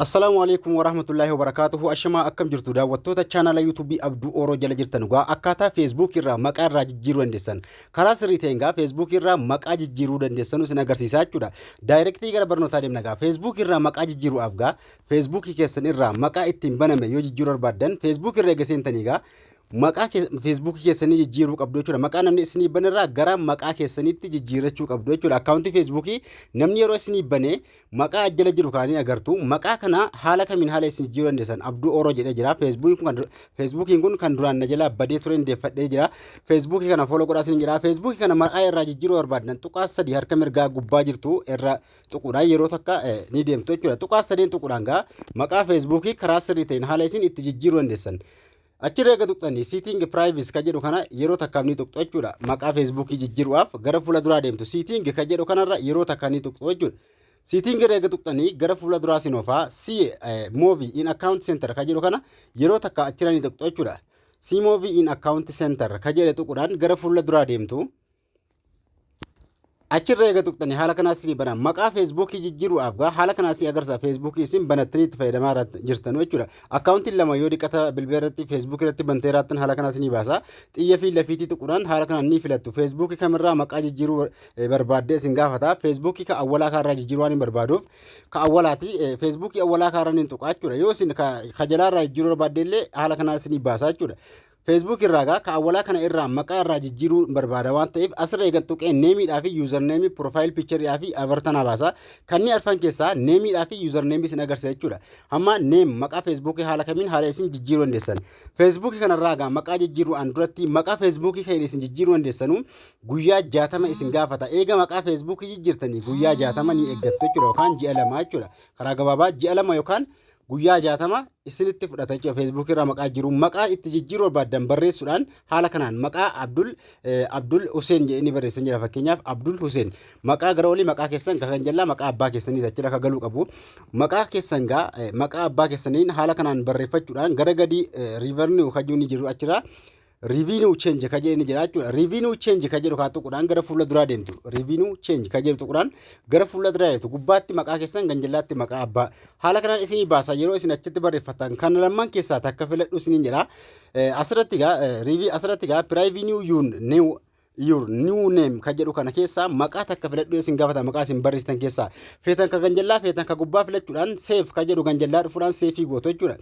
Assalaamu alaikum warahmatullaahi wabarakaatuhu ashamaa akkam jirtu daawwattoota chaanaala yuutuubii abduu ooroo jala jirtan dhugaa akkaataa feesbuukii irraa maqaa irraa jijjiiruu dandeessan karaa sirrii ta'een gaa feesbuukii irraa maqaa jijjiiruu dandeessanu isin agarsiisaa jechuudha daayirektii gara barnootaa deemna gaa feesbuukii irraa maqaa jijjiiruudhaaf gaa feesbuukii keessan irraa maqaa ittiin baname yoo jijjiiruu barbaaddan feesbuukii irra eega seentanii gaa maqaa feesbuukii keessanii jijjiiruu qabdu jechuudha maqaa namni isinii banerraa gara maqaa keessaniitti jijjiirrachuu qabdu jechuudha akkaawuntii feesbuukii namni yeroo isinii banee Maqaa as jala jiru kana ni agartu. Maqaa kana haala kamiin haala isin jijjiiruu dandeessan Abduu Ooroo jedhee jira. Feesbuukiin kun kan dur- Feesbuukiin kun kan duraan na jalaa badee ture hin deeffadhee jira. Feesbuukii kana fooloo godhaa isin jira. Feesbuukii kana maqaa irraa jijjiiruu barbaaddan tuqaa sadii harka mirgaa gubbaa jirtu irra tuquudhaan yeroo takka eh, ni deemtu jechuudha. Tuqaa sadeen tuquudhaan gaa maqaa feesbuukii karaa sirrii ta'een haala isin itti jijjiiruu dandeessan. Achirra eega tuqxanii Seeting Privacy ka jedhu kana yeroo takkaaf ni tuqxu jechuudha. Maqaa Facebook jijjiru'aaf gara fuula duraa deemtu Seeting ka jedhu kanarra yeroo takka ni tuqxu jechuudha. Seeting irra eega tuqxanii gara fuula duraa sin oofaa See eh, Movie in Account Center ka jedhu kana yeroo takka achirra ni tuqxu jechuudha. See Movie in Account Center ka jedhe tuquudhaan gara fuula duraa deemtu. achirra eega tuqxani haala kanaa sini bana maqaa feesbuukii jijjiiruudhaaf gaa haala kanaa si agarsiisa feesbuukii isin banattanii itti fayyadamaa irratti jirtanu jechuudha akkaawuntiin lama yoo diqata bilbila irratti feesbuukii irratti bantee raattan haala kanaa sini baasa xiyya fi lafiitii tuquudhaan haala kanaan ni filattu feesbuukii kamirraa maqaa jijjiiruu eh, barbaaddee isin gaafata feesbuukii ka awwalaa kaarraa jijjiiruu waan hin barbaaduuf ka awwalaati eh, feesbuukii awwalaa kaarraa ni tuqaa jechuudha yoo isin ka ka jalaarraa jijjiiruu barbaadde illee haala kanaa sini baasa jechuudha Facebook irraa egaa ka awwalaa kana irraa maqaa irraa jijjiiruu barbaada waan ta'eef asirra eegan tuqee neemiidhaa fi yuuzarneemii piroofaayil piichariidhaa fi abartanaa baasa. Kanneen arfan keessaa neemiidhaa fi yuuzarneemii isin agarsiisa jechuudha. Amma neem maqaa feesbuukii haala kamiin haala isin jijjiiruu dandeessan. Feesbuukii kanarraa egaa maqaa jijjiiruu an duratti maqaa feesbuukii kan isin jijjiiruu dandeessanu guyyaa jaatama isin gaafata. Eega maqaa feesbuukii jijjiirtanii guyyaa jaatama ni eeggattu jechuudha yookaan ji'a lama jechuudha. Karaa gabaabaa ji'a lama yookaan guyyaa 60 isinitti fudhata jechuudha feesbuukii irraa maqaa jiru maqaa itti jijjiiruu barbaaddan barreessuudhaan haala kanaan maqaa abdul abdul huseen jedhanii barreessan jira fakkeenyaaf abdul huseen maqaa gara olii maqaa keessan kan jallaa maqaa abbaa keessanii jechuudha akka galuu qabu maqaa keessan gaa maqaa abbaa keessaniin haala kanaan barreeffachuudhaan gara gadii riivarni hojii ni jiru achirraa Revenue change ka jedhani jira jechuudha. Revenue change ka jedhu kaa tuqudhaan gara fuula duraa deemtu. Revenue change ka jedhu tuqudhaan gara fuula duraa deemtu. Gubbaatti maqaa keessan kan jallaatti maqaa abbaa. Haala kanaan isinii baasa yeroo isin achitti barreeffatan kan lamman keessaa takka filadhu isiniin jedha. Asirratti gaa asirratti gaa revenue yuun new your new name kan jedhu kana keessaa maqaa takka filadhu isin gaafata maqaa isin barreessitan keessaa feetan ka ganjallaa feetan ka gubbaa filachuudhaan seef kan jedhu ganjallaa dhufuudhaan seefii gootu jechuudha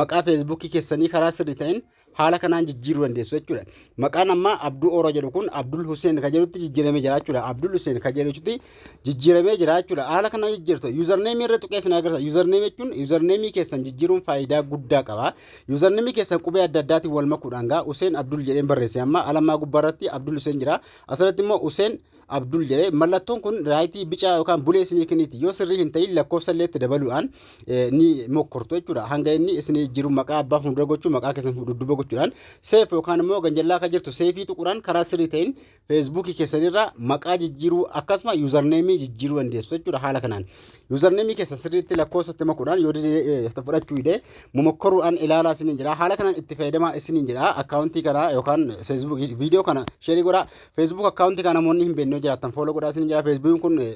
maqaa feesbuukii keessanii karaa sirrii ta'een haala kanaan jijjiiruu dandeessu jechuudha maqaan ammaa abduu oro jedhu kun abdul huseen kan jedhutti jijjiiramee jira jechuudha abdul huseen kan jedhutti jijjiiramee jira jechuudha. Haala kana jijjiirtu yuuzarneemii irra tuqee isin agarsiisa. Yuuzarneemii jechuun yuuzarneemii keessan jijjiiruun faayidaa guddaa qaba. Yuuzarneemii keessan qubee adda addaatiin wal makuudhaan gaa Useen Abdul jedheen barreesse amma alammaa gubbaa irratti Abdul Useen jira. Asirratti immoo Useen Abdul jedhee mallattoon kun raayitii bicaa yookaan bulee isinii kenniiti. Yoo sirrii hin ta'in lakkoofsa illee itti dabaluudhaan eh, ni mokkortu jechuudha. Hanga inni isinii jiru maqaa abbaa fuuldura gochuu maqaa keessan dudduuba gochuudhaan seef yookaan immoo ganjallaa akka jirtu seefii tuquudhaan karaa sirrii ta'in Facebook keessan irraa maqaa jijjiiruu akkasuma username jijjiiruu dandeessu jechuudha haala kanaan. Username keessan sirriitti lakkoofsa itti makuudhaan yoo dide- fudhachuu dide momokkoruudhaan ilaalaa isiniin jira. Haala kanaan itti fayyadamaa isiniin jira. Akkaawuntii kana yookaan Facebook viidiyoo kana sheerii godhaa. Facebook akkaawuntii kana namoonni hin beekne yoo jiraattan fooloo godhaa isiniin jira. Facebook kun eh,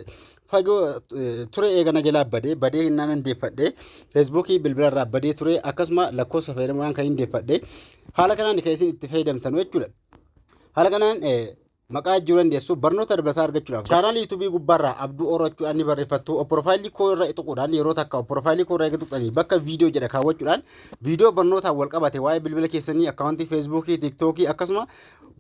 fagoo eh, ture eegana jalaa badee badee hin naan deeffadhe. Facebook bilbila irraa badee ture akkasuma lakkoofsa fayyadamuudhaan kan hin deeffadhe. Haala kanaan kan isin itti fayyadamtan jechuudha. Haala kanaan maqaa jijjiiruu dandeessu. Barnoota dabalataa argachuudhaaf chaanaalii yuutuubii gubbaarraa Abduu Oro jechuudhaan ni barreeffattu. Opporofaayilii koo irra tuquudhaan yeroo takka opporofaayilii koo irra eega tuqxanii bakka viidiyoo jedha kaawwachuudhaan viidiyoo barnootaan wal qabate waa'ee bilbila keessanii akkaawuntii feesbuukii, tiiktookii akkasuma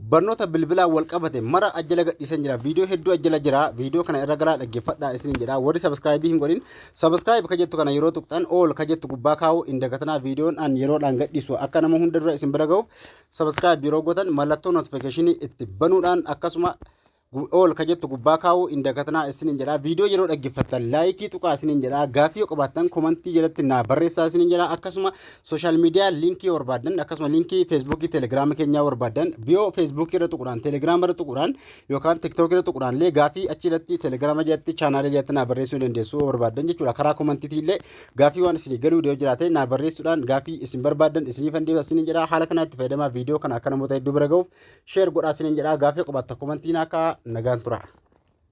barnoota bilbilaa wal qabate mara ajjala gadhiisan jira. Viidiyoo hedduu ajjala jira. Viidiyoo kana irra galaa dhaggeeffadhaa isiniin jedha. Warri sabiskiraayibii hin godhin sabiskiraayib ka jettu kana yeroo tuqxan ool ka jettu gubbaa kaa'uu hin dagatinaa viidiyoon an yeroodhaan gadhiisu akka nama hunda dura isin bira ga'uuf Subscribe yeroo gootan mallattoo notification itti banuudhaan akkasuma gu- all ka jettu gubbaa kaa'uu hin dagatinaa isiniin jedha. Viidiyoo yeroo dhaggeeffattan laayikii tuqaa isiniin jedha. Gaaffii yoo qabaattan komantii jalatti naa barreessaa isiniin jedha. Akkasuma sooshaal miidiyaa liinkii yoo barbaaddan akkasuma liinkii feesbuukii telegiraama keenyaa yoo barbaaddan biyoo feesbuukii irra tuquudhaan telegiraama irra tuquudhaan yookaan tiktookii irra tuquudhaan illee gaaffii achi irratti telegiraama jalatti chaanaalii jalatti naa barreessuu dandeessu yoo barbaaddan jechuudha. Karaa komantiitii illee Gaaffii waan isinii galuu dide yoo jiraate naa barreessuudhaan gaaffii isin barbaaddan isiniifan deebisa isiniin jedha haala kanaatti fayyadamaa viidiyoo kana akka namoota hedduu bira ga'uuf sheer godhaa isiniin jedha gaaffii qabaatta komantii naa kaa'aa nagaan tura.